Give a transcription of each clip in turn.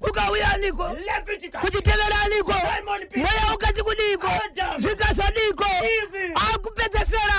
ukauya niko kuchitevera niko mweya ukati kudiko zvikasadiko akupedzesera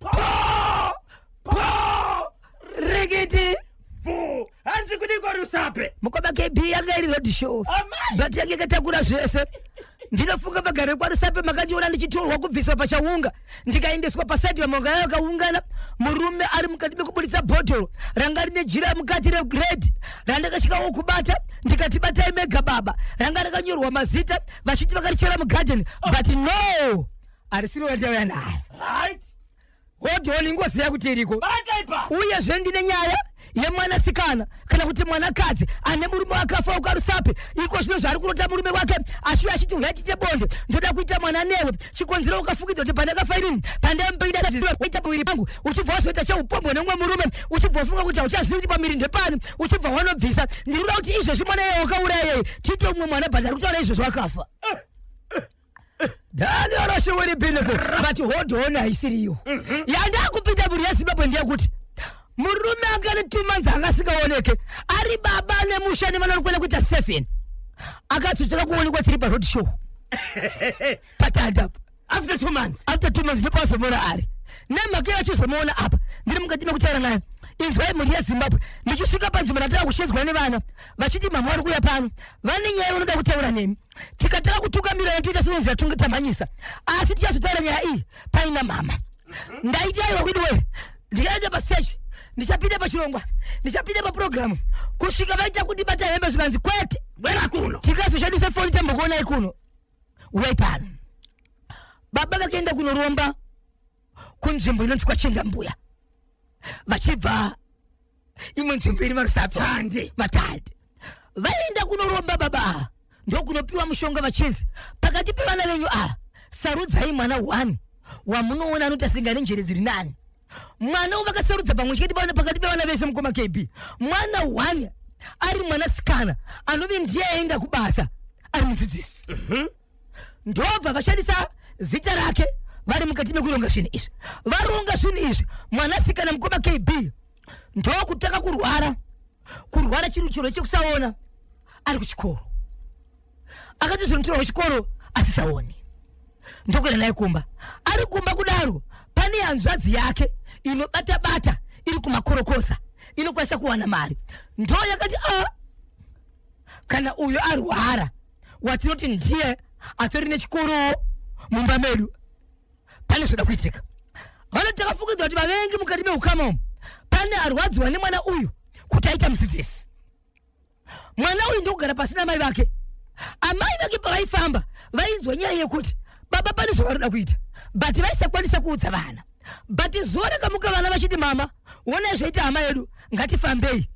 Poo! Poo! Rikiti! Vuu! Hanzi kudiko rusape! Mukoma KB yanga iri road show. Amai! But yanga yakatakura zvese. Ndinofunga vagari kwaRusape makandiona ndichitorwa kubviswa pachaunga ndikaendeswa paside vamwe vanga vakaungana murume ari mukati mekuburitsa bhodhoro ranga rine jira mukati rered randakasvikawo kubata ndikati batai mega baba ranga rakanyorwa mazita vachiti vakarichera mugarden but no arisiri wandauya nayo right hodoni ngoziva kuti iriko bata ipa uyezve ndine nyaya yemwanasikana kana kuti mwanakadzi ane murume wakafa ukarusapi iko zvino zvaari kurota murume wake ashuya achiti uya tiite bonde ndoda kuita mwana newe chikonzero ukafukidza kuti pandakafa inini pandaimupeida zviziva waita paviri pangu uchibva wazoita cheupombwe neumwe murume uchibva wafunga kuti hauchazivi kuti pamiri ndepani uchibva wanobvisa ndiri kuda kuti izvezvi mwana yeye wakauraya yeye tiite umwe mwana bhandari kutaura izvezvi wakafa danioroshe wiri benefit but hold on haisiriyo mhm. yandakupinda mhuri yezimbabwe ndeyekuti murume anga ne two months anga asikaoneke ari baba nemusha nevanori kuenda kuita seven akatsotsvaka kuonekwa tiri paroad show patandapo after two months after two months ndipo azomuona ari nemhaka iyo achizomuona apa ndiri mukati mekutaura nayo inzwai mhuri yezimbabwe ndichisvika panzvimbo ndatanga kushedzwa nevana vachiti mama vari kuuya pano vane nyaya vanoda kutaura nemi tikatanga kutungamirana toita sinonzi yatunga tamhanyisa asi tichazotaura nyaya iyi paina mama mhm. ndaidaiwa widi wee ndikaenda pasechi ndichapinda pachirongwa ndichapinda paprogramu kusvika vaita kuti bata hembe zvikanzi kwete wera kuno tikazoshandisa foni tambokuonai kuno uyai pano baba vakaenda kunoromba kunzvimbo inonzi kwachenda mbuya vachibva imwe nzvimbo iri marusape Tande. vatande vaienda kunoromba baba ava ndokunopiwa mushonga vachinzi pakati pevana venyu ava sarudzai mwana one wamunoona anoita singa nenjere dziri nani mwana uyu vakasarudza pamwe chete pavana- pakati pevana vese mukoma kb mwana one ari mwana sikana anove ndiye aenda kubasa ari mudzidzisi ndobva vashandisa zita rake vari mukati mekuronga zvinhu izvi varonga zvinhu izvi mwanasikana mukoma kb ndokutanga kurwara kurwara chiri chiro chekusaona ari kuchikoro akati zvinotirwa kuchikoro asisaoni ndokuenda naye kumba ari kumba kudaro pane hanzvadzi yake inobata bata iri kumakorokosa inokwanisa kuwana mari ndo yakati a ah, kana uyo arwara watinoti ndiye atori nechikorowo mumba medu pane zvoda kuitika vanoti takafungidzwa kuti vavengi mukati meukama umu pane arwadziwa nemwana uyu kuti aita mudzidzisi mwana uyu ndokugara pasi namai vake amai vake pavaifamba vainzwa nyaya yekuti baba pane zvavanoda kuita but vaisakwanisa kuudza vana but zuva rakamuka vana vachiti mama wonai zvaita hama yedu ngatifambei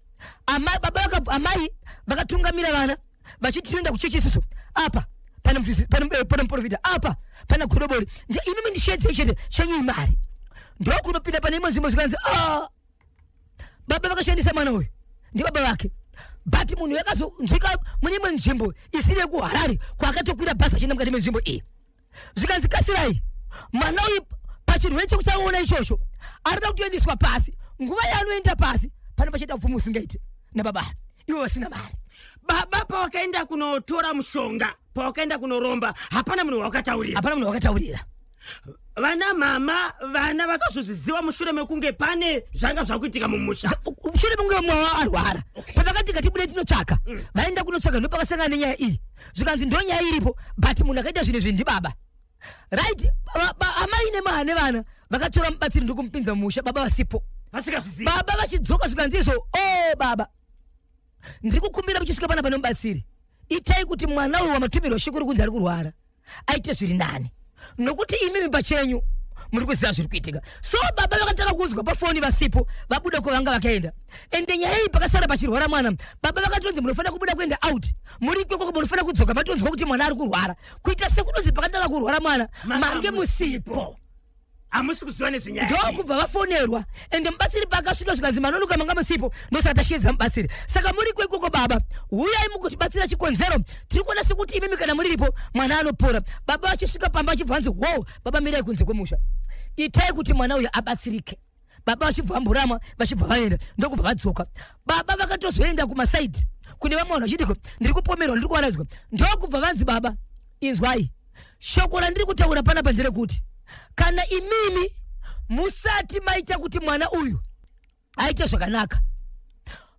amai baba amai vakatungamira vana vachiti tinoenda kuchechi isusu apa pane eh, muprofita apa pana godobori imimi ndishedzei chete chenyuyi mari ndokunopinda pane imwe nzvimbo zvikanzi ah, baba vakashandisa mwana uyu ndibaba vake but munhu yakazonzwika mune imwe nzvimbo isiri yekuharare kwaakatokwira bhasi achienda mukati menzvimbo iyi zvikanzi kasirai mwana uyu pachirwere chekuchaona ichocho arida kutoendeswa pasi nguva yaanoenda pasi pane pachaita upfumi usingaite nababa ivo vasina mari baba pawakaenda kunotora mushonga pawakaenda kunoromba hapana munhu wawakataurira hapana munhu wawakataurira vana mama vana vakazozviziva mushure mekunge pane zvanga zvakuitika mumusha mushure mekunge mumwe wavo arwara pavakati ngatibude tinotsvaka mm. vaenda kunotsvaka ndopavasangana nenyaya iyi zvikanzi ndonyaya iripo but munhu akaita zvinhu izvi ndibaba right amai nemaha nevana vakatora mubatsiri ndikumupinza mumusha baba vasipo baba vachidzoka zvikanzi izvo o oh, baba ndiri kukumbira muchisvika pana pane mubatsiri itai kuti mwana uyu wamatumirwa shekuru kunzi ari kurwara aite zviri nani nokuti imimi pachenyu muri kuziva zviri kuitika so baba vakatanga kunzwa pafoni vasipo vabuda kwavanga vakaenda ende nyaya iyi pakasara pachirwara mwana baba vakatonzi munofanira kubuda kuenda out muri ikoko munofanira kudzoka matonzwa kuti mwana ari kurwara kuita sekunonzi pakatanga kurwara mwana mange musipo hamusi kuziva nezvenyaya ndokubva vafonerwa ende mubatsiri paakasvika zvikanzi manonoka manga musipo ndosati ashiedza mubatsiri saka muri kweikoko baba huyai mugotibatsira chikonzero tiri kuona sekuti imimi kana muriripo mwana anopora baba vachisvika pamba vachibva vanzi wow baba mirai kunze kwemusha itai kuti mwana uyo abatsirike baba vachibva vamborama vachibva vaenda ndokubva vadzoka baba vakatozoenda kumasaidi kune vamwe vanhu vachidiko ndiri kupomerwa ndiri kuvaraidzwa ndokubva vanzi baba inzwai shoko randiri kutaura panapa nderekuti kana imimi musati maita kuti mwana uyu aite zvakanaka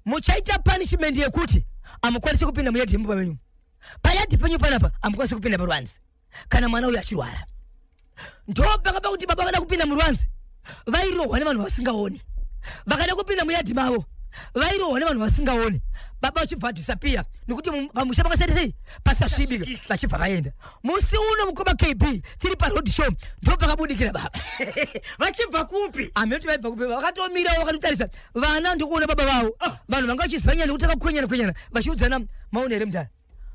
muchaita punishment yekuti amukwanise kupinda muyadhi yemumba menyu payadhi penyu panapa amukwanise kupinda paruanzi kana mwana uyu achirwara ndopakapa kuti baba vada kupinda muruanzi vairohwa nevanhu vasingaoni vakada kupinda muyadhi mavo vairohwa nevanhu vasingaoni baba vachibva vadisapiya nekuti pamusha pakasati sei pasasvibika vachibva vaenda musi uno mukoma kb tiri paroad show ndo pakabudikira baba vachibva kupi amene kuti vaibva kupi vakatomirawo vakatotarisa vana ndokuona baba vavo ah. vanhu vanga vachiziva nyaya nekuti vakakwenyana kwenyana vachiudzana maona here mudhara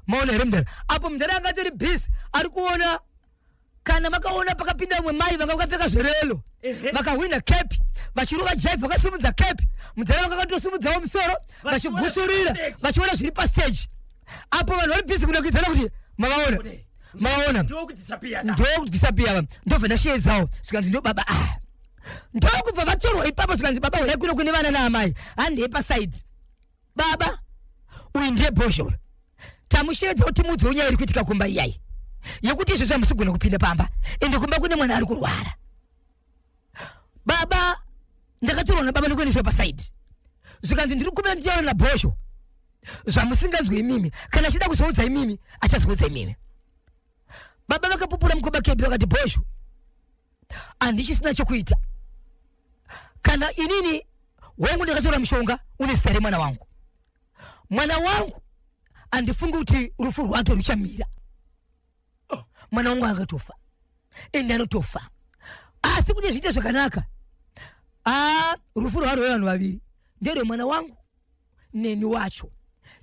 maona here mudhara apo mudhara anga atori busy ari kuona kana vakaona pakapinda vamwe mai vanga vakapfeka zverelo vakahwina kepi vachirova jive vakasimudza kepi mudzara vanga vakatosimudzawo musoro vachigutsurira vachiona zviri pasteji apo vanhu vari bhizi kudakidzana kuti mavaona mavaona ndokudhisapiya ndobva ndasheedzawo zvikanzi ndo baba a ah. ndokubva vatorwa ipapo zvikanzi baba huyai kuno kune vana naamai handei pasaidi baba uyu ndiye bhozho uyu tamusheedza kuti mudzi unyaya iri kuitika kumba iyayi yekuti izvezvi hamusigona kupinda pamba ende kumba kune mwana ari kurwara baba ndakatorwa nababa nekuendeswa pasaidi zvikanzi ndiri kumbira nditaura nabhozho zvamusinganzwe imimi kana achida kuzoudza imimi achazoudza imimi baba vakapupura mukoba kebi vakati bhozho handichisina chokuita kana inini wangu ndakatora mushonga une zita remwana wangu mwana wangu handifungi kuti rufu rwake ruchamira oh. mwana wangu angatofa ende anotofa asi kuti zviite zvakanaka a ah, rufu rwarwee vanhu vaviri nderwemwana wangu neni wacho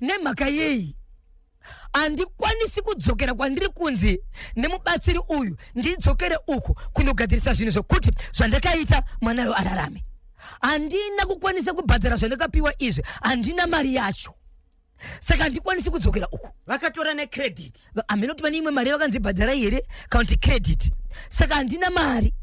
nemhaka yei handikwanisi kudzokera kwandiri kunzi nemubatsiri uyu ndidzokere uku kunogadzirisa zvinhu zvokuti zvandakaita mwanayo ararame handina kukwanisa kubhadhara zvandakapiwa izvi handina mari yacho saka handikwanisi kudzokera uku vakatora necredit hameno kuti vane imwe mari vakanzi bhadharai here kana kuti credit saka handina mari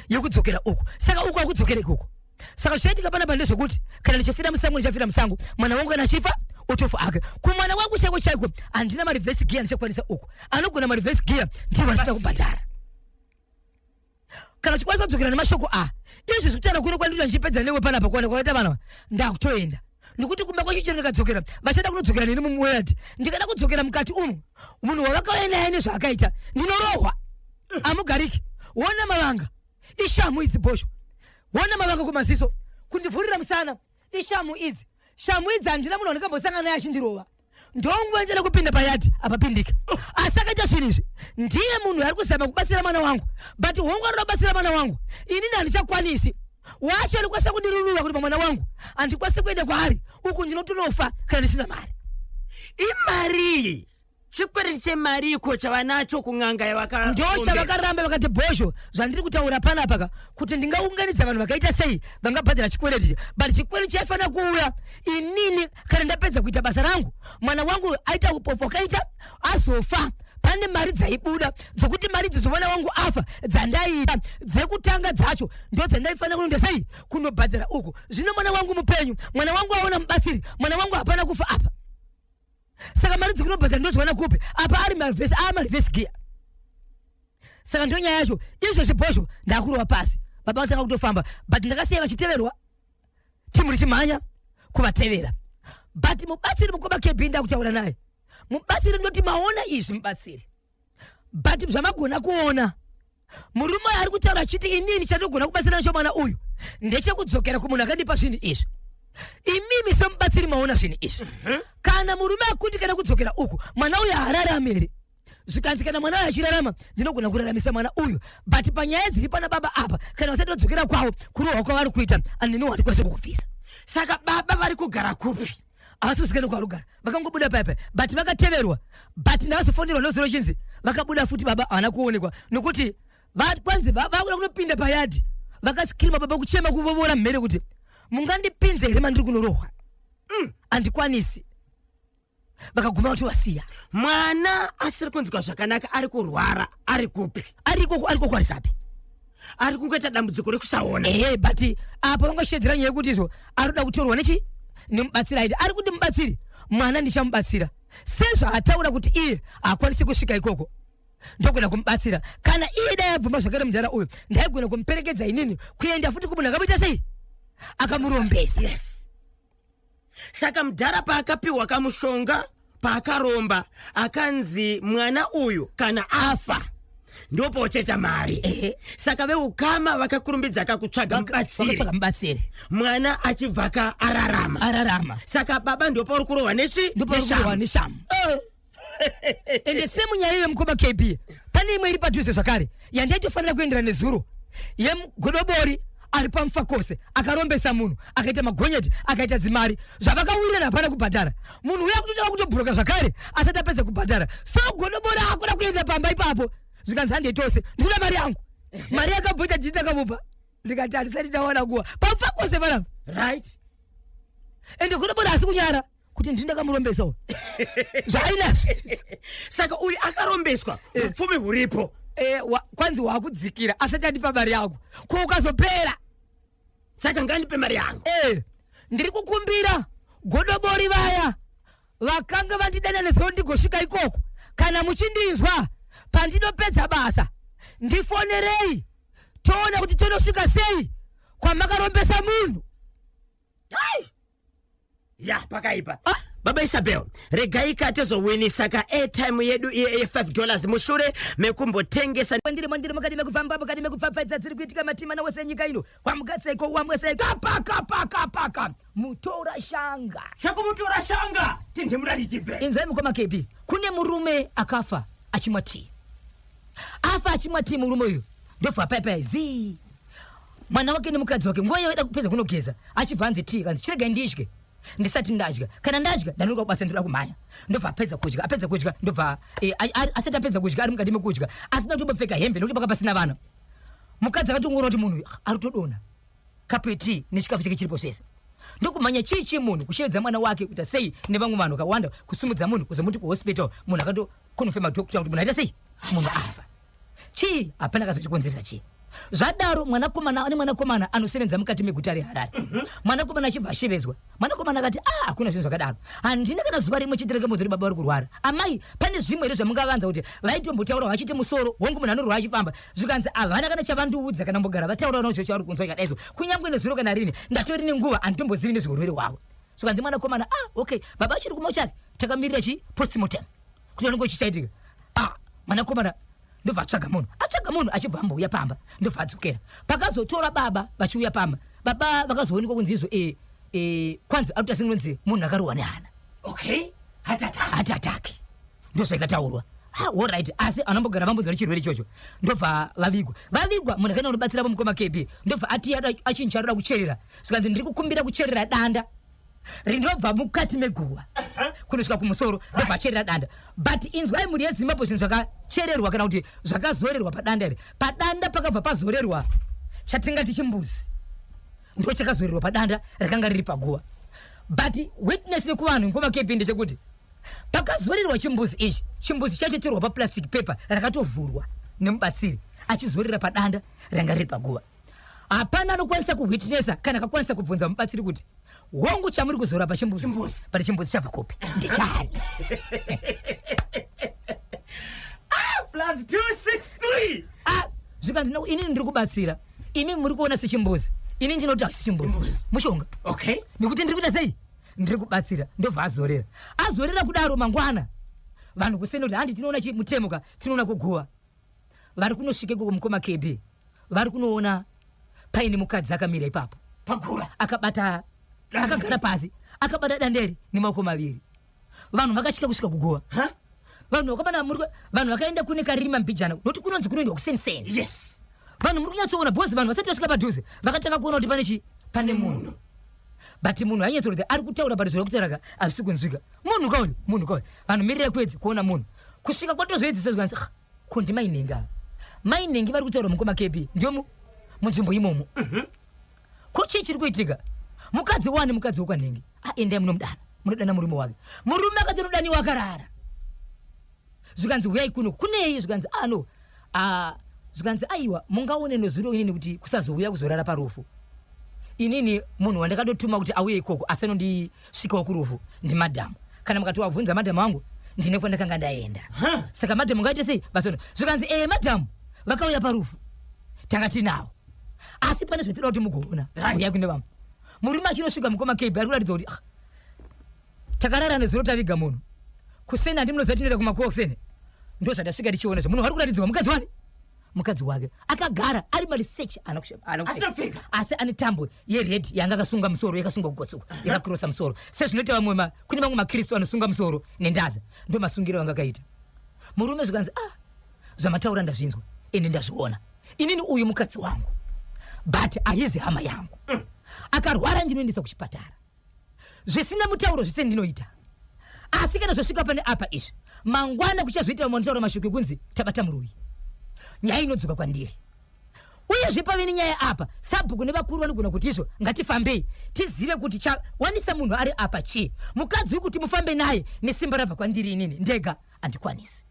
yekudzokera uku saka uku akudzokera ikoko saka zvichaitika pana pande zvekuti kana ndichofira musango ndichafira musango mwana wangu kana achifa otofa ake kumwana wangu chaiko chaiko handina mareverse gear ndichakwanisa uku anogona mareverse gear ndiye vandisina kubhadhara kana chikwanisa kudzokera nemashoko a izvi zvekutaura kuno kwandiri ndichipedza newe panapa kuona kwakaita vana ndakutoenda nekuti kumba kwacho chero ndikadzokera vachada kunodzokera neni mumweyard ndikada kudzokera mukati umu munhu wavakauya naye nezvaakaita ndinorohwa amugariki wona mavanga ishamu idzi bhosho wona mavanga kumaziso kundivhurira musana ishamu idzi shamu idzi handina munhu wandikambosangana naye achindirova ndonguva ndele kupinda payadhi apapindika asi akaita zvinhu izvi ndiye munhu ari kuzama kubatsira mwana wangu but hongu anoda kubatsira mwana wangu ini ndandichakwanisi wacho alikwanisa kundirunura kuti pamwana wangu andikwanisi kuenda kwaari uku ndinotonofa kana ndisina mari imarii chikwereti chemari iko chavanacho kun'anga yavaka ndo chavakaramba vakati bhozho zvandiri kutaura panapaka kuti ndingaunganidza vanhu vakaita sei vangabhadhara chikwereti but chikwereti chaifanira kuuya inini kana ndapedza kuita basa rangu mwana wangu aita upofu akaita azofa pane mari dzaibuda dzokuti mari idzo dzomwana wangu afa dzandaiita dzekutanga dzacho ndo dzandaifanira kunoenda sei kunobhadhara uku zvino mwana wangu mupenyu mwana wangu aona mubatsiri mwana wangu hapana kufa apa saka mari dzikunobhadhara ndodziwana kupi apa ari marivhesi a marivhesi giya saka ndo nyaya yacho izvo zvibhozvo ndakurova pasi baba vatanga kutofamba but ndakasiya vachiteverwa timu richimhanya kuvatevera but mubatsiri mukoma kb ndakutaura naye mubatsiri ndoti maona izvi mubatsiri but zvamagona kuona murume uyo ari kutaura achiti inini chandogona kubatsira nacho mwana uyu ndechekudzokera kumunhu akandipa zvinhu izvi imimi semubatsiri maona zvinhu izvi mhm. kana murume akuti kana kudzokera uku mwana uyo haarari amere zvikanzi kana mwana uyu achirarama ndinogona kuraramisa mwana uyu but panyaya dziri pana baba apa kana vasati vadzokera kwavo kurohwa kwavari kuita anini watikwanise kukubvisa saka baba vari kugara kupi havasi kusikana kwavari kugara vakangobuda paipai but vakateverwa but ndavazofonerwa nozuva rochinzi vakabuda futi baba havana kuonekwa nokuti kwanzi vakuda kunopinda payadi vakasikirima baba kuchema kuvovora mhere kuti mungandipinze here mandiri kunorohwa mm. andikwanisi mm. vakaguma vatovasiya mwana asiri kunzwa zvakanaka ari kurwara ari kupi ari ikoko ari ikoko arisapi ari kungoita dambudziko rekusaona ehe but apa vangashedzera nyaya yekuti izvo anoda kutorwa nechi nemubatsiri aiti ari kuti mubatsiri mwana ndichamubatsira sezvaataura kuti iye hakwanisi kusvika ikoko ndogona kumubatsira kana iye dai abvuma zvakare mudhara uyu ndaigona kumuperekedza inini kuenda futi kumunhu akamuita sei akamurombesa yes saka mudhara paakapiwa kamushonga paakaromba akanzi mwana uyu kana afa ndopocheta mari Ehe. saka veukama vakakurumbidza kakutsvaga mubatsiri vakatsvaga mubatsiri mwana achibva ka ararama ararama saka baba ndopauri kurohwa nechi ndipo neshamba. rikurohwa neshamu Eh. ende semu nyaya yemukoma kb pane imwe iri padhuze zvakare yandaitofanira kuendera nezuro yemgodobori ari pamufa kose akarombesa munhu akaita magonyeti akaita dzimari zvavakawirirana hapana kubhadhara munhu uya kutotanga kutobhuroka zvakare asati apedza kubhadhara so godobori akuda kuenda pamba ipapo zvikanzi handei tose ndikuda mari yangu mari yakabhoita ndii ndakamupa ndikati handisati ndawana nguva pamufa kose vanapa right ende godobori asi kunyara kuti ndini ndakamurombesa uyu zvainazvo saka uyu akarombeswa Eh. upfumi huripo Eh, wa- kwanzi wakudzikira asati andipa mari yangu ko ukazopera saka ngandipe mari yangu Eh, ndiri kukumbira godobori vaya vakanga vandidana nezvo ndigosvika ikoko kana muchindinzwa pandinopedza basa ndifonerei toona kuti tonosvika sei kwamakarombesa munhu Ai! ya pakaipa ah, baba isabel regaika tozowinisa ka airtime yedu iye ye 5 dollars mushure mekumbotengesa ndiri mandiri mukati mekufamba mukati mekupfapfaidza dziri kuitika matimana wese enyika ino wamugaseko wamwese kapakapakapaka mutora shanga chakumutora shanga tindimurari jibve inzwai mukoma kebi kune murume akafa achimwa tii afa achimwa tii murume uyu ndobva apaipai zii mwana wake nemukadzi wake nguva yoida kupedza kunogeza achibva anzi tii kanzi chiregai ndidye ndisati ndadya kana ndadya ndanonoka kubasa ndoda kumhanya ndobva apedza kudya apedza kudya ndobva eh, asati apedza kudya ari mukati mekudya asi ndakutobopfeka hembe nokuti paka pasina vana mukadzi akatongoona kuti munhu ah, ari kutodona kapu yetii nechikafu chake chiripo zvese ndokumhanya chii chii munhu kushevedza mwana wake kuita sei nevamwe vanhu vakawanda kusimudza munhu kuzomuti kuhospital munhu akato kunofema doctor kuti munhu aita sei munhu afa chii hapana kazi chikonzeresa chii zvadaro mwanakomana ane mwanakomana anosevenza mukati meguta reharare mhm. mwanakomana achibva ashevezwa mwanakomana akati a ah, hakuna zvinhu zvakadaro handina kana zuva rimwe chete rekemodzo ri baba vari kurwara amai pane zvimwe here zvamungavanza kuti vaitombotaura vachiti musoro hongu munhu anorwara achifamba zvikanzi havana kana chavandiudza kana mbogara vataura nozvo chavari kunzwa ikadaizo kunyange nezuro kana rini ndatori nenguva handitombozivi nezveurwere hwavo zvikanzi mwanakomana ah okay baba achiri kumochari takamirira chi postmortem kuti anenge chichaitika ah mwanakomana ndobva atsvaga munhu atsvaga munhu achibva ambouya pamba ndobva adzokera pakazotora baba vachiuya pamba baba vakazoonekwa kunzi izvo e, e, kwanzi akuti asinonzi munhu akarohwa nehana okay hati ataki ndozvaikataurwa orit ah, asi anombogara vambonzwa nechirwere ichocho ndobva vavigwa vavigwa munhu akaenda kunobatsira vomukoma kb ndobva ati achinja roda kucherera zvikanzi ndiri kukumbira kucherera danda rinobva mukati meguva kunosvika kumusoro ndobva acherera danda but inzwai mhuri yezimbabwe zvinhu zvakachererwa kana kuti zvakazorerwa padanda iri padanda pakabva pazorerwa chatingati chimbuzi ndo chakazorerwa padanda rakanga riri paguva but witness nekuvanhu nguva kepinde chekuti pakazorerwa chimbuzi ichi chimbuzi chatotorwa paplastic paper rakatovhurwa nemubatsiri achizorera padanda ranga riri paguva hapana anokwanisa kuhwitnesa kana akakwanisa kubvunza mubatsiri kuti hongu chamuri kuzora pachimbuzi pati chimbuzi chabva kopi ndichani plus 263 ah zvikanzi no ini ndiri kubatsira imi muri kuona sechimbuzi ini ndinoti hasi chimbuzi mushonga okay nekuti ndiri kuita sei ndiri kubatsira ndobva azorera azorera kudaro mangwana vanhu kuseni kuti handi tinoona chimutemo ka tinoona kuguva vari kunosvika ikoko mukoma kb vari kunoona paine mukadzi akamira ipapo paguva akabata akagara pasi akabata danderi nemaoko maviri vanhu vakasvika kusvika kuguva vanhu vakamana muri vanhu vakaenda kune karima mbijana nokuti kunonzi kunoendwa kuseniseni yes vanhu muri kunyatsoona bhozi vanhu vasati vasvika padhuze vakatanga kuona kuti pane chii pane munhu but munhu hanyatso kuti ari kutaura but zviri kutaura ka hazvisi kunzwika munhu ka uyu munhu ka uyu vanhu mirira kuedzi kuona munhu kusvika kwatozoedzisa zvikanzi ah, ko ndimainenge ava mainenge vari kutaura mukoma kepi ndiyo munzvimbo imomo mhm. ko chii chiri kuitika mukadzi wani mukadzi wekwanenge aendai ah, munomudana munodana murume wake murume akati unodaniwa akarara zvikanzi huyai kuno kunei zvikanzi ah no ah zvikanzi aiwa mungaone nezuro inini kuti kusazouya kuzorara parufu inini munhu wandakatotuma kuti auye ikoko asi anondisvikawo kurufu ndimadhamu kana mukatiwabvunza madhamu wangu ndine kwandakanga ndaenda saka madhamu ngaite sei basono zvikanzi ee eh, madhamu vakauya parufu tanga tinawo asi pane zvatinoda kuti mugoona uya kune vamwe murume achinosvika mukoma kb ari kuratidza kuti ah, Takarara nezuro taviga munhu. Kuseni handi munoziva tinoenda kumakuva kuseni. Ndozvatasvika tichiona zve munhu wari kuratidzwa mukadzi wani? Mukadzi wake akagara ari maliseche ana kushe- ana kushe- Asina kupfeka. asi ane tambo yered yanga akasunga musoro yakasunga kugotsoka yakakirosa musoro sezvinoita vamwe ma- kune vamwe makristu anosunga musoro nendaza ndo masungiro anga akaita murume zvikanzi ah zvamataura ndazvinzwa ini ndazviona inini uyu mukadzi wangu but ahizi hama yangu akarwara ndinoendesa kuchipatara zvisina mutauro zvese ndinoita asi kana zvosvika pane apa izvi mangwana kuchazoita vamwe vanotaura mashoko ekunzi tabata muroyi nyaya inodzoka kwandiri uyezve pave nenyaya apa sabhuku nevakuru vanogona kuti izvo ngatifambei tizive kuti chawanisa munhu ari apa chii mukadzi wekuti mufambe naye nesimba rabva kwandiri inini ndega andikwanisi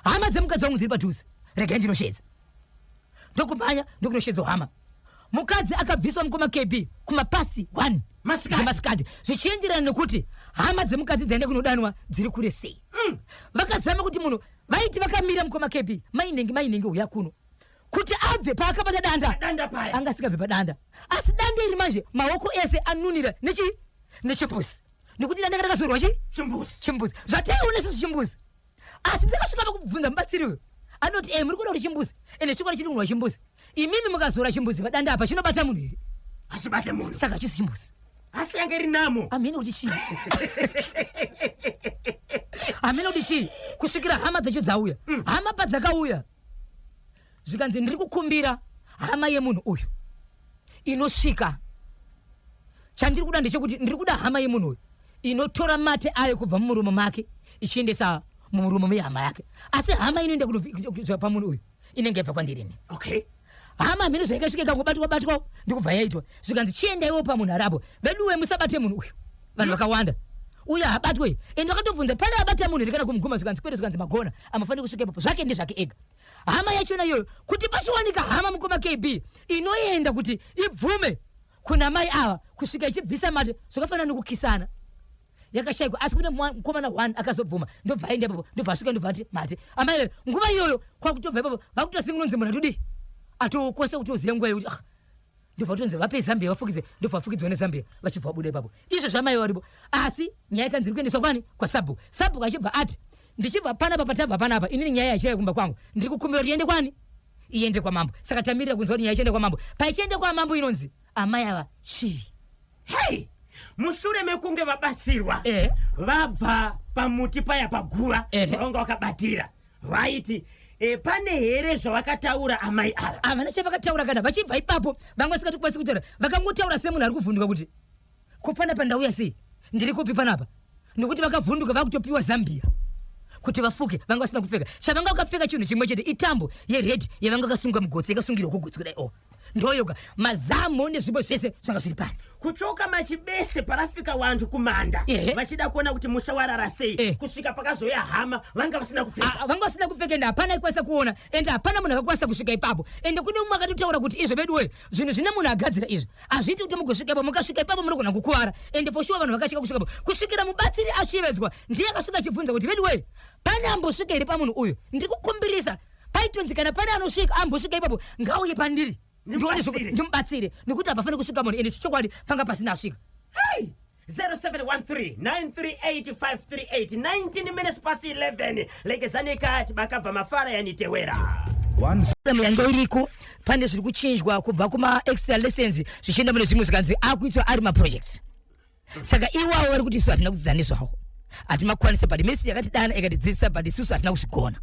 hama dzemukadzi wangu dziri padhuze regai ndinoshedza ndokumhanya ndokunoshedzwa hama mukadzi akabviswa mukoma kb kumapasi 1 dzemasikati zvichienderana nekuti hama dzemukadzi dzaenda kunodanwa dziri kure sei mm. vakazama kuti munhu vaiti vakamira mukoma kb mainenge mainenge uya kuno kuti abve paakabata danda anga asikabve padanda asi danda iri manje maoko ese anunira nechi nechipusi nekuti danda karakazorwa chi chimbuzi chimbuzi zvataiona isusu chimbuzi asi ndakasvika pakubvunza mubatsiri uyu anoti e muri kuda kuti chimbuzi ende chikwadi chiri kunwa chimbuzi imimi mukazora chimbuzi padanda apa chinobata munhu here hachibate munhu saka chisi chimbuzi asi yange iri namo amene kuti chii amene kuti chii kusvikira hama dzacho dzauya hama padzakauya zvikanzi ndiri kukumbira hama yemunhu uyu inosvika chandiri kuda ndechekuti ndiri kuda hama yemunhu uyu inotora mate ayo kubva mumuromo make ichiendesa mumuromo mehama yake asi hama inoenda kunoa pamunhu uyu inenge yabva kwandirini okay hama mhino zvaikasvika ikangobatwa batwa ndikubva yaitwa zvikanzi chiendaiwo pamunhu arapo veduwe musabate munhu uyu vanhu mm. vakawanda mm -hmm uyo habatwe ende vakatobvunza pane abata munhu here kana kumuguma zvikanzi kwete zvikanzi magona amafanira kusvika ipapo zvake ndezvake ega hama yachona iyoyo kuti pachiwanika hama mukoma kb inoenda kuti ibvume kuna mai ava kusvika ichibvisa mate zvakafanana nekukisana yakashaikwa asi kune mukomana one akazobvuma ndobva aenda ipapo ndobva asvika ndobva ati mate amai nguva iyoyo kwakutobva ipapo vakutosingulonzi munhu atodii atokosa kuti uzive nguva yekuti ah, ndobva kutonzi vape zambia vafukidze ndobva vafukidzwa nezambia vachibva vabuda ipapo izvo zvamai varipo asi nyaya ikanzi iri kuendeswa kwani kwasabhuku sabhuku achibva ati ndichibva panapa patabva panapa inini nyaya yachiraya kumba kwangu ndiri kukumbira kuti iende kwani iende kwamambo saka tamirira kunzwa kuti nyaya ichienda kwamambo paichienda kwamambo inonzi amai ava chii Hey! mushure mekunge vabatsirwa eh. vabva pamuti paya paguva eh. vanga vakabatira vaiti E, pane here zvavakataura amai ava havana chavakataura kana vachibva ipapo vanga vasikati kukwanisi kutaura vakangotaura semunhu ari kuvhunduka kuti ko panapa ndauya sei ndiri kupi panapa nokuti vakavhunduka vakutopiwa zambia kuti vafuke vanga vasina kupfeka chavanga vakapfeka chinhu chimwe chete itambo yeredi yavanga vakasunga mugotsi yakasungirwa kugotsi kudai o oh. ndoyoga mazamu nezvimbo zvese zvanga zviri panzi kuchoka machibese parafika wandu kumanda vachida kuona kuti musha warara sei eh. kusvika pakazoya hama vanga vasina kupfeka ah, vanga vasina kupfeka ende hapana ikwanisa kuona ende hapana munhu akakwanisa kusvika ipapo ende kune umwe akatotaura kuti izvo vedu we zvinhu zvine munhu agadzira izvo hazviiti kuti mugosvika ipapo mukasvika ipapo munogona kukuvara ende foshuwa vanhu vakasvika kusvika ipapo kusvikira mubatsiri ashevedzwa ndiye akasvika achibvunza kuti vedu we pane ambosvika iri pamunhu uyu ndiri kukumbirisa paitonzi kana pane anosvika ambosvika ipapo ngauye pandiri ndimubatsire nekuti hapafani kusvika munhu ende chokwadi panga pasina asvika 0713938538 minutes past 11 lekezani kati bakabva mafara yanitewera yange iriko pane zviri kuchinjwa kubva kumaextra lessons zvichienda mune zvimwe zvikanzi akuitwa ari maprojects saka iwawo vari kuti isu hatina kudzidza nezvawo hatimakwanise but mesi yakatidana ikatidzidzisa but isusu hatina kuzvigona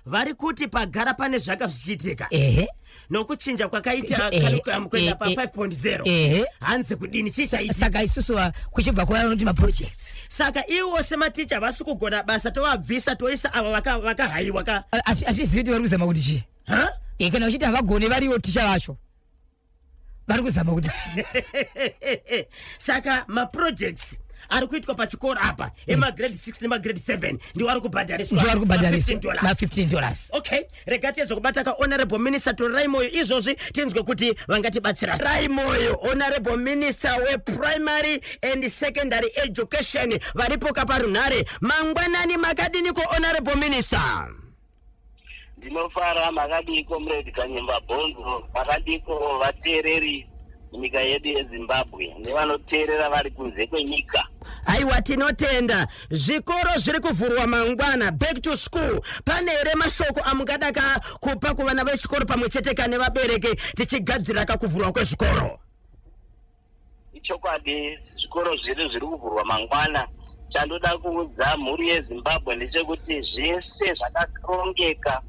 vari kuti pagara pane zvaka zvichiitika ehe nokuchinja kwakaita Eh, curriculum kuenda eh, pa eh, 5.0 ehe hanzi kudini chii chaitika saka isusu wa- kuchibva kuva vanoti maprojects saka iwo sematicha vasi kugona basa tovabvisa toisa avo vaka- vakahaiwa ka Ati- atizivi kuti vari kuzama kuti chii Ha? Eh, kana vachiti havagone variwo ticha vacho vari kuzama kuti chii saka maprojects ari kuitwa pachikoro apa emagrade 6 nemagrade 7 ndiwo ari kubhadhariswa ndiwo ari kubhadhariswa ma15 dollars okay rega tiedze kubata ka honorable minister torai moyo izvozvi tinzwe kuti vangatibatsira rai moyo honorable minister weprimary and secondary education varipo kaparunhare mangwanani makadini ko honorable minister ndinofara makadii comrade kanyemba bhonzo makadiko vateereri nyika yedu yezimbabwe nevanoteerera vari kunze kwenyika aiwa tinotenda zvikoro zviri kuvhurwa mangwana back to school pane here mashoko amungada ka kupa kuvana vechikoro pamwe chete ka nevabereki tichigadzirira ka kuvhurwa kwezvikoro Ichokwadi zvikoro zvedu zviri kuvhurwa mangwana. Chandoda kuudza mhuri yeZimbabwe ndechekuti zvese zvakarongeka.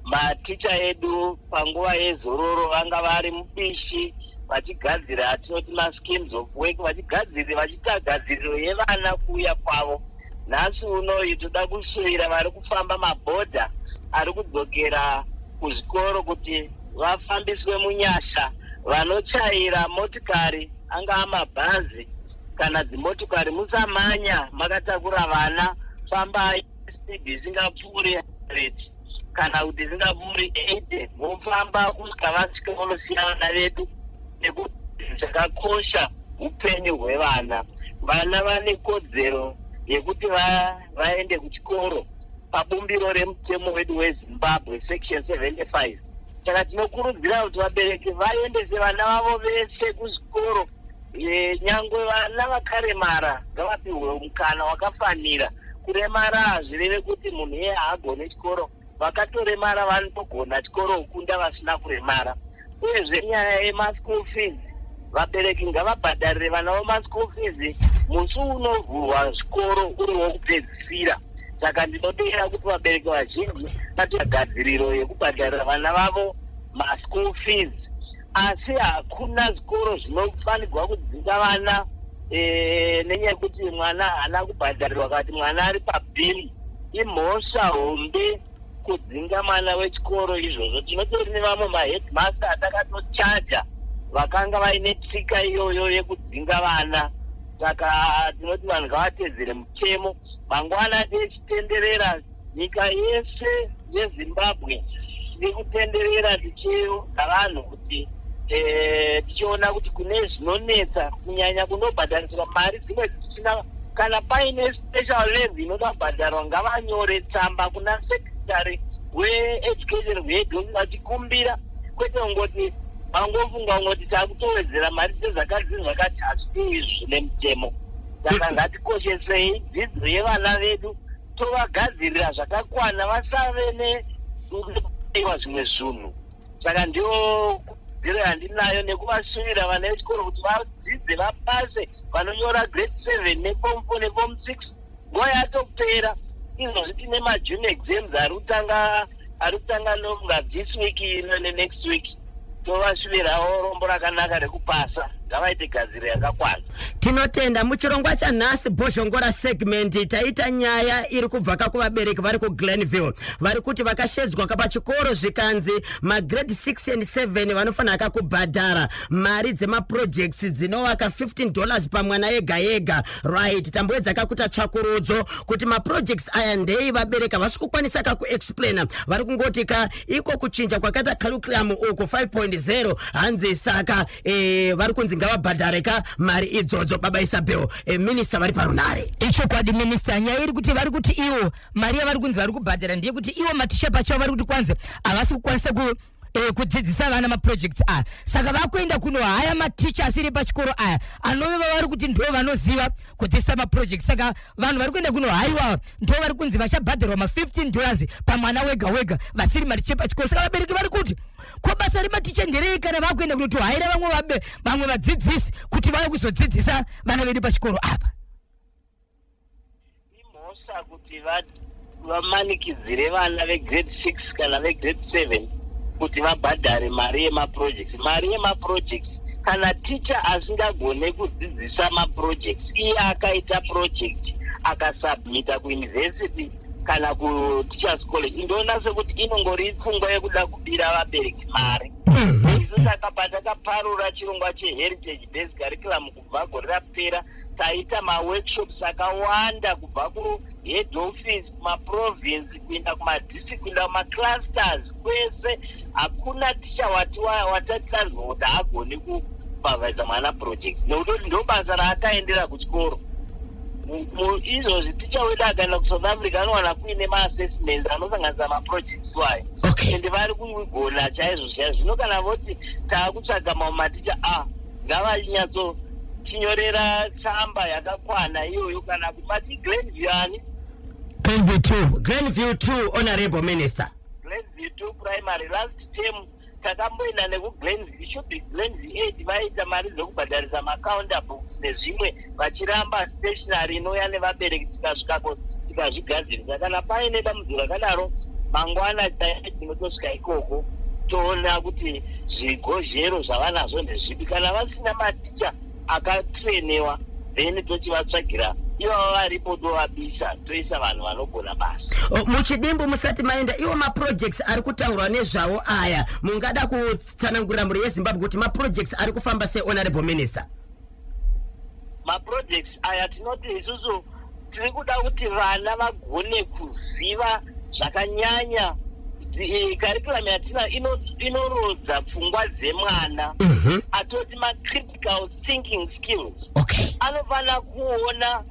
Maticha edu panguva yezororo vanga vari mubishi vachigadzira atinoti maschemes of work vachigadzira vachiita gadziriro yevana kuuya kwavo. nhasi unoyu toda kusuvira vari kufamba mabhodha ari kudzokera kuzvikoro kuti vafambiswe munyasha vanochaira motikari angaa mabhazi kana dzimotikari musamanya makatakura vana fambai speed isingapfuuri 100 kana kuti zingaburi ede vofamba kusvika vasvika vonosiya vana vedu nekuti zvakakosha upenyu hwevana vana vane kodzero yekuti vaende va kuchikoro pabumbiro remutemo wedu wezimbabwe section 75 saka tinokurudzira kuti vabereki vaendese vana vavo vese kuzvikoro e, nyangwe vana vakaremara ngavapihwe mukana wakafanira kuremara hazvireve kuti munhu iye haagone chikoro vakatoremara vanotogona chikoro kukunda vasina kuremara uyezve nyaya yemaschool fees vabereki ngavabhadharire vana vo maschool fees musi unovhurwa zvikoro uri wokupedzisira saka ndinoteera kuti vabereki vazhinji vati gadziriro yekubhadharira vana vavo maschool fees asi hakuna zvikoro zvinofanirwa kudzisa vana eh, nenyaya yekuti mwana haana kubhadharirwa kati mwana ari pabhimu imhosva hombe kudzinga mwana wechikoro izvozvo tinotori nevamwe maheadmaster atakatochaja vakanga vaine tsika iyoyo yekudzinga vana saka tinoti vanhu ngavatedzere mutemo mangwana tichitenderera nyika yese yezimbabwe tiri kutenderera tichiudza vanhu kuti eh, tichiona kuti kune zvinonetsa kunyanya kunobhadhariswa mari dzimwe dzisina kana paine special leve inoda kubhadharwa ngavanyore tsamba kuna secretary weeducation hwedu vachikumbira kwete kungoti vangofunga kungoti takutowedzera mari dzezvakadzi zvakati hazvii zvine mutemo saka ngatikoshesei dzidzo yevana vedu tovagadzirira zvakakwana vasave nekuiwa zvimwe zvinhu saka ndiyo kudziro yandinayo nekuvasuvira vana vechikoro kuti vadzidze vapase vanonyora grade seven nefom four nefom six nguva yatopera izvozvi tine majune exams ari kutanga ari kutanga lombwa this week ino nenext week tovashuvirawo rombo rakanaka rekupasa ngavaite gadziro yakakwana tinotenda muchirongwa chanhasi bhozhongora segment taita nyaya iri kubva ka kuvabereki vari kuglenville vari kuti vakashedzwa ka pachikoro zvikanzi magrade 6 and 7 vanofanira ka kubhadhara mari dzemaprojects dzinovaka 15 dollars pamwana ega ega right tamboedza kakuta tsvakurudzo kuti maprojects aya ndei vabereka vasi kukwanisa kakuexplaina vari kungoti ka iko kuchinja kwakaita curriculum uku 5.0 hanzi saka e, vari kunzi ngavabhadhare ka mari idzodzo baba isabel e, minista vari parunare ichokwadi minista nyaya iri kuti vari kuti iwo mari yavari kunzi vari kubhadhara ndeyekuti iwo maticha pachavo vari kuti kwanzi havasi kukwanisa ku eh, kudzidzisa vana maprojects aya saka vakuenda kuno haya maticha asiri pachikoro aya anove vavari kuti ndo vanoziva kudzidzisa maprojects saka vanhu vari kuenda kuno haiwawa ndo vari kunzi vachabhadharwa ma15 dollars pamwana wega wega vasiri maticha pachikoro saka vabereki vari kuti ko basa rematicha nderei kana vakuenda kunotohaira vamwe vabe vamwe vadzidzisi kuti vauye kuzodzidzisa vana vedu pachikoro apa Imhosva kuti vamanikidzire vana vegrade six kana vegrade seven kuti vabhadhare mari yemaprojects mari yemaprojects kana ticha asingagone kudzidzisa maprojects iye akaita project akasubmita kuuniversity kana kuteachers college ndoona sekuti inongori pfungwa yekuda kubira vabereki mari mhm. isu saka patakaparura chirongwa cheheritage based curriculum kubva gore rapera taita maworkshops akawanda kubva kuhead office kumaprovince kuenda kumadistrict kuenda kumaclusters kwese hakuna ticha wati watati tanzwa kuti haagoni kupavhaisa mwana project nekutoti ndo basa raakaendera kuchikoro izvozvi ticha wedu akaenda kusouth africa anowana kuine maassessments anosanganisa maprojects wayo okay. and vari kugona chaizvo chaizvo zvino kana voti taakutsvaga mamaticha a ah, ngavanyatsotinyorera tsamba yakakwana iyoyo kana kumati glenview ani glenview two glenview two honorable minister glenview two primary last term takamboenda nekuglenview should be glenview eight vaita mari dzekubhadharisa macounter books nezvimwe vachiramba stationary inouya nevabereki tikasvika ko tikazvigadzirisa kana paine dambudziko rakadaro mangwana chaiye tinotosvika ikoko toona kuti zvigozhero zvavanazvo ndezvipi kana vasina maticha akatrainewa then tochivatsvagira ivava varipo tovabisa toisa vanhu vanogona basa O, muchidimbu musati maenda iwo maprojects ari kutaurwa nezvawo aya mungada kutsanangurira mhuri yezimbabwe kuti maprojects ari kufamba sehonorable minister maprojects aya tinoti isusu tiri kuda kuti vana vagone kuziva zvakanyanya karikuramu eh, yatina inorodza pfungwa dzemwana mhm. atoti macritical thinking skills anofanira kuona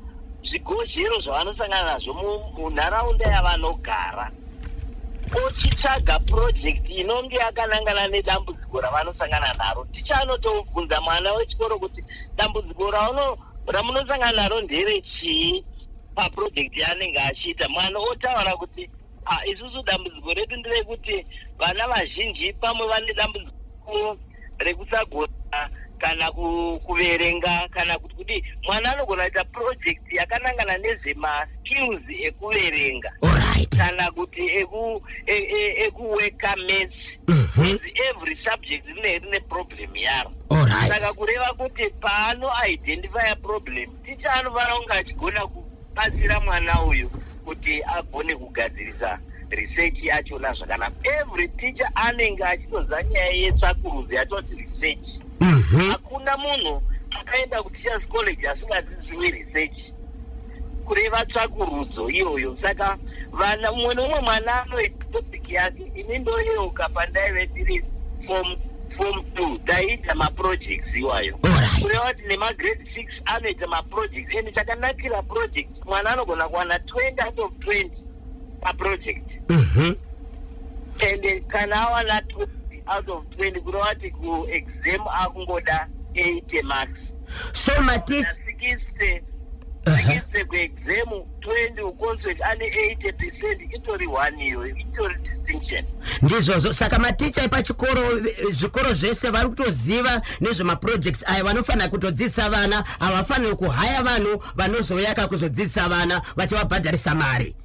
zvigodzero zvavanosangana nazvo munharaunda yavanogara ochitsvaga purojekti inonge yakanangana nedambudziko ravanosangana naro ticha anotobvunza mwana wechikoro kuti dambudziko rauno ramunosangana naro ndere chii papurojekti yaanenge achiita mwana otaura kuti Ah, isusu dambudziko redu nderekuti vana vazhinji pamwe vane dambudziko rekusagona kana ku- kuverenga kana kuti kuti mwana anogona kuita project yakanangana nezvemaskills ekuverenga Alright. kana kuti eku- e- e- ekuweka maths Mhm. Because every subject rine rine problem yaro Alright. saka kureva kuti paano identifya problem Ticha anovara kunge achigona kubatsira mwana uyu kuti agone kugadzirisa research yachona zvakanaka every teacher anenge achitoziva nyaya yetsvakurudzo yatoti research mhm. hakuna munhu akaenda kuteachers college asingadziziwi research kureva tsvakurudzo iyoyo saka vana umwe neumwe mwana anoitopic yake ini ndoyeuka pandaive ndiri form form two taiita maprojects iwayo kureva kuti nemagrade six anoita maproject and chakanakira project mwana anogona kuwana twenty out of twenty paproject mhm. and eh, kana awana twenty out of twenty kureva kuti kuexam akungoda eighty marks so matisikise sikise kuexam 20 ukonzwe ane 80 percent itori one iyoyo itori distinction ndizvozvo saka maticha epachikoro eh, zvikoro zvese vari kutoziva nezvemaprojects aya vanofanira kutodzidzisa vana havafaniri kuhaya vanhu vanozouya ka kuzodzidzisa vana vachivabhadharisa mari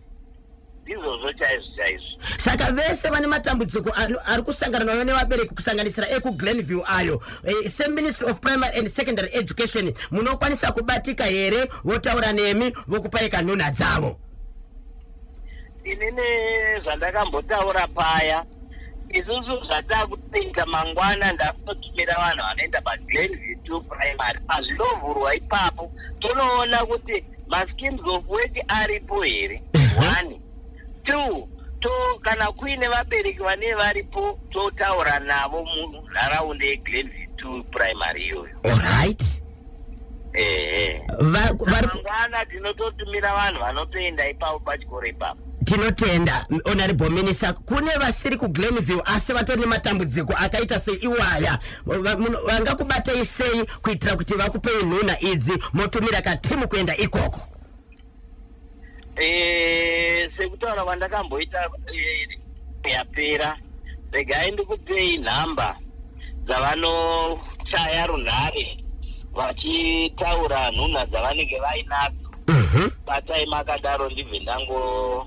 ndizvozvo chaizvo chaizvo saka vese vane matambudziko ari kusangana nayo nevabereki kusanganisira ekuglenview ayo e, seministry of primary and secondary education munokwanisa kubatika here votaura nemi vokupai kanhuna dzavo inini zvandakambotaura paya isusu zvatakupinda mangwana ndakunotumira vanhu vanoenda paglenview to primary pazvinovhurwa ipapo tonoona kuti maschemes of work aripo here one two to kana kuine vabereki vane varipo totaura navo munharaunda yeglenview two primary iyoyo olright ehe Va- vari- mangwana tinototumira vanhu vanotoenda ipapo pachikoro ipapo tinotenda honorable minister kune vasiri kuglenville asi vatori nematambudziko akaita seiwaya Va- muno- vangakubatei sei kuitira kuti vakupei nhuna idzi motumira katimu kuenda ikoko eh, sekutaura kwandakamboita eh, yapera regai ndikupei nhamba dzavanochaya runhare vachitaura nhunha dzavanenge vainadzo mhm. batai makadaro ndibve ndango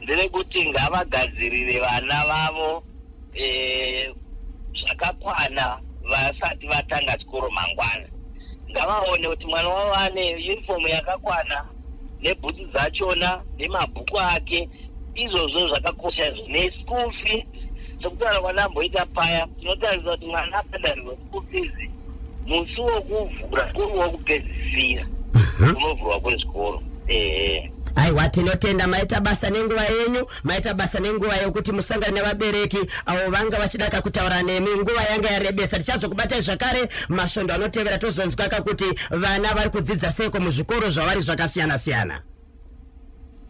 Nderekuti ngavagadzirire vana vavo eh, zvakakwana vasati vatanga chikoro mangwana. Ngavaone kuti mwana wavo ane uniform yakakwana nebhutsu dzachona nemabhuku ake izvozvo zvakakosha izvo neschool fees sekutaura kwandamboita paya tinotaridza kuti mwana akadanirwa school fees musi wokuvhura kuri wokupedzisira Mhm. unovhurwa kwezvikoro ehe aiwa tinotenda maita basa nenguva yenyu maita basa nenguva yekuti musangane nevabereki avo vanga vachida kakutaura nemi nguva yanga yarebesa tichazokubatai zvakare masvondo anotevera tozonzwaka kuti vana vari kudzidza seiko muzvikoro zvavari zvakasiyana siyana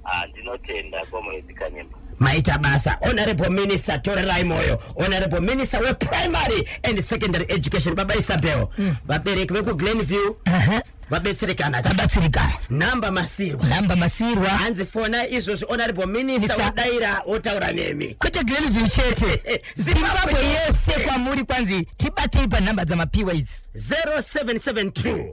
Ah, ndinotenda comrade kanyemba maita basa honorable minister torerai moyo honorable minister weprimary and secondary education baba isabel mm. vabereki vekuglen view uh -huh vabetserekana vabatsirikana namba masirwa namba masirwa hanzi fona izvozvi honorable minister wadaira wotaura nemi kwete glenview chete zimbabwe yese kwamuri kwanzi tibatei panhamba dzamapiwa idzi 0772